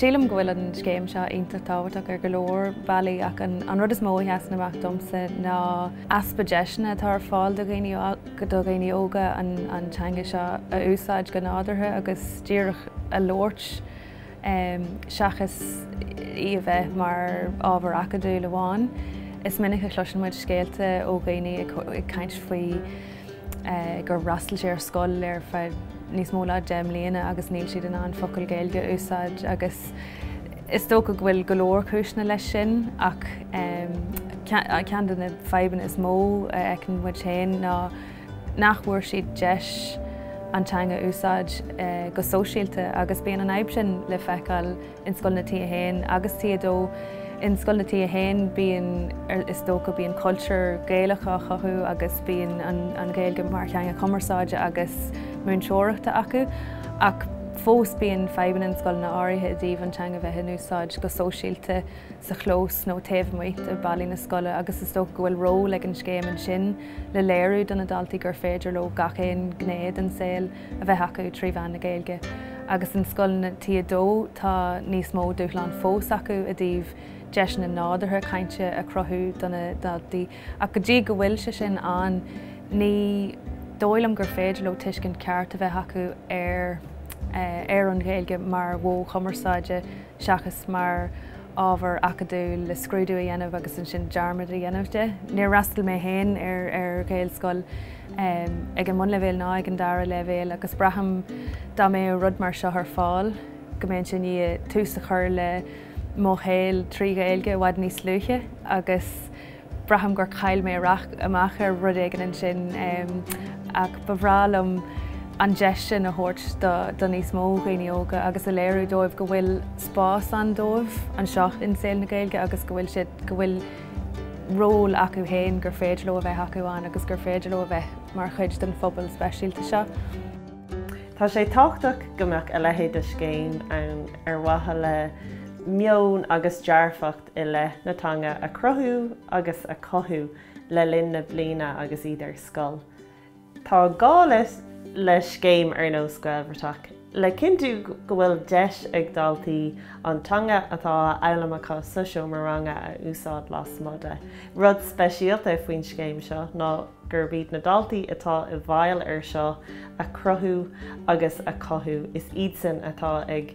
Sílim go bhfuil an scéim seo iontach tábhachtach ar go leor bealaí ach an rud is mó a sheasann amach domsa ná easpa deiseanna atá ar fáil do dhaoine do dhaoine óga an teanga seo a úsáid go nádúrtha agus díreach a labhairt Seachas í a bheith mar ábhar acadúil amháin, is minic a chloiseann muid scéalta ó dhaoine ag caint faoi gur fhreastail siad ar scoil ar feadh níos mó ná deich mbliana agus níl siad in ann focal Gaeilge a úsáid agus is dócha go bhfuil go leor cúiseanna leis sin ach ceann de na fadhbanna is mó a fheiceann muid féin ná nach bhfuair siad deis an teanga a úsáid go sóisialta agus bíonn an fhadhb sin le feiceáil in scoileanna T1 agus T2. In scoileanna T1 bíonn, is dócha, bíonn cultúr Gaelach á chothú agus bíonn an Ghaeilge mar theanga cumarsáide agus múinteoireachta acu ach fós bíonn fadhbanna in scoileanna áirithe i dtaobh an teanga bheith in úsáid go sóisialta sa chlós nó taobh amuigh de ballaí na scoile agus is dócha go bhfuil ról ag an scéim ansin. le léiriú do na daltaí gur féidir leo gach aon ghné den saol a bheith acu trí mheán na Gaeilge. Agus in scoileanna T2 tá níos mó dúshlán fós acu i dtaobh deiseanna nádúrtha cainte a chruthú do na daltaí. Ach go dtí go bhfuil sé sin ann ní dóigh liom gur féidir leo tuiscint ceart a bheith acu ar an Ghaeilge mar mhodh chumarsáide. seachas mar ábhar acadúil le scrúdú a dhéanamh agus ansin dearmad a dhéanamh de. Níor fhreastail mé féin ar Ghaelscoil ag an mbunleibhéal ná ag an dara leibhéal agus braithim dá mbeadh rud mar seo ar fáil go mbeinn i ndiaidh tús a chur le mo shaol trí Ghaeilge i bhfad níos luaithe agus Braithim gur chaill mé amach ar rud éigin ansin ach ba bhreá liom an deis sin a thabhairt do níos mó dhaoine óga agus a léiriú dóibh go bhfuil spás ann dóibh anseo in saol na Gaeilge agus go bhfuil siad, go bhfuil ról acu féin gur féidir leo a bheith acu ann agus gur féidir leo a bheith mar chuid den phobal speisialta seo. Tá sé tábhachtach go mbeadh a leithéid de scéim ann ar mhaithe le meon agus dearcadh dearfach i leith na teanga a chruthú agus a chothú le linn na bliana agus iad ar scoil. Tá gá le scéim ar nós Gaelbhratach le cinntiú go bhfuil deis ag daltaí an teanga atá á fhoghlaim acu sa seomra ranga a úsáid lasmuigh de. Rud speisialta faoin scéim seo ná gurb iad na daltaí atá i bhfeighil ar seo a chruthú agus a chothú, is iadsan atá ag.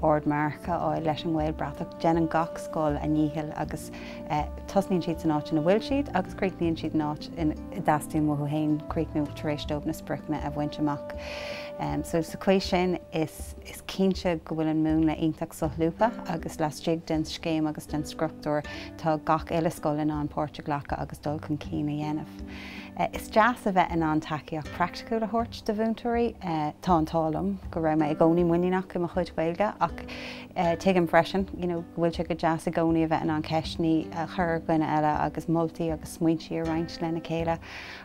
ardmharc a fháil leis an nGaelbhratach. Déanann gach scoil a ndícheall agus tosnaíonn siad san áit ina bhfuil siad agus críochnaíonn siad san áit in a dteastaíonn uathu féin críochnú tar éis dóibh na spriocanna a bhaint amach. So sa chaoi sin is cinnte go bhfuil an múnla iontach solúbtha agus laistigh den scéim agus den struchtúr tá gach uile scoil in ann páirt a ghlacadh agus dul chun cinn a dhéanamh. Is deas a bheith in ann tacaíocht praiticiúil a thabhairt do mhúinteoirí. Tá an t-ádh liom go raibh mé i gcónaí muiníneach i mo chuid Gaeilge ach tuigim freisin go bhfuil sé go deas i gcónaí a bheith in ann ceisteannaí a chur ar dhuine eile agus moltaí agus smaointí a roinnt lena chéile.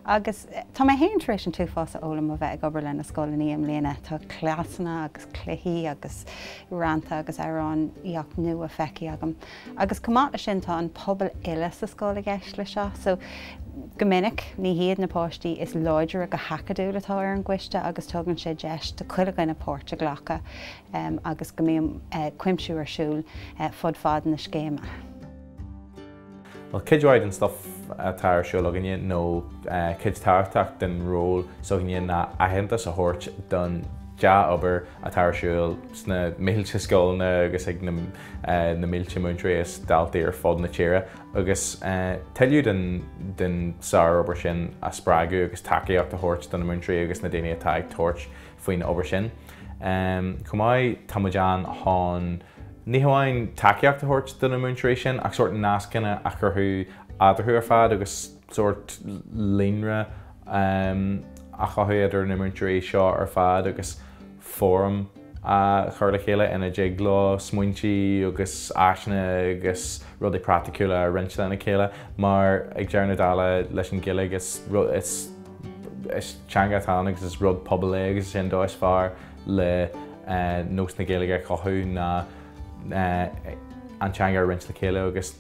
Agus tá mé féin tar éis an t-uafás a fhoghlaim ó bheith ag obair lena scoileannaí i mbliana. Tá cleasanna agus cluichí agus rannta agus amhránaí nua feicthe agam. Agus chomh maith le sin tá an pobal uile sa scoil i gceist le seo. So go minic ní hiad na páistí is láidre go hacadúil atá ar an gcoiste agus tugann sé deis do chuile dhuine páirt a ghlacadh agus go mbeidh cuimsiú ar siúl fud fad na scéime. Bhuel, cuid mhaith den stuff atá ar siúl againne nó cuid tábhachtach den ról s'againne ná aitheantas a thabhairt don dea-obair atá ar siúl sna mílte scoileanna agus ag na na mílte múinteoirí is daltaí ar fud na tíre agus tuilleadh den sárobair sin a spreagadh agus tacaíocht a thabhairt do na múinteoirí agus na daoine atá ag tabhairt faoin obair sin. Chomh maith, tá muid ann chun ní hamháin tacaíocht a thabhairt do na múinteoirí sin ach sórt nascanna a chruthú eadarthu ar fad agus, sórt líonra a chothú idir na múinteoirí seo ar fad agus fóram a chur le chéile ina dtig leo smaointí agus áiseanna agus rudaí praiticiúla a roinnt lena chéile mar ag deireadh na dála leis an Ghaeilge is is teanga atá ann agus is rud pobail é agus is é an dóigh is fearr le nós na Gaeilge a chothú ná an teanga a roinnt le chéile agus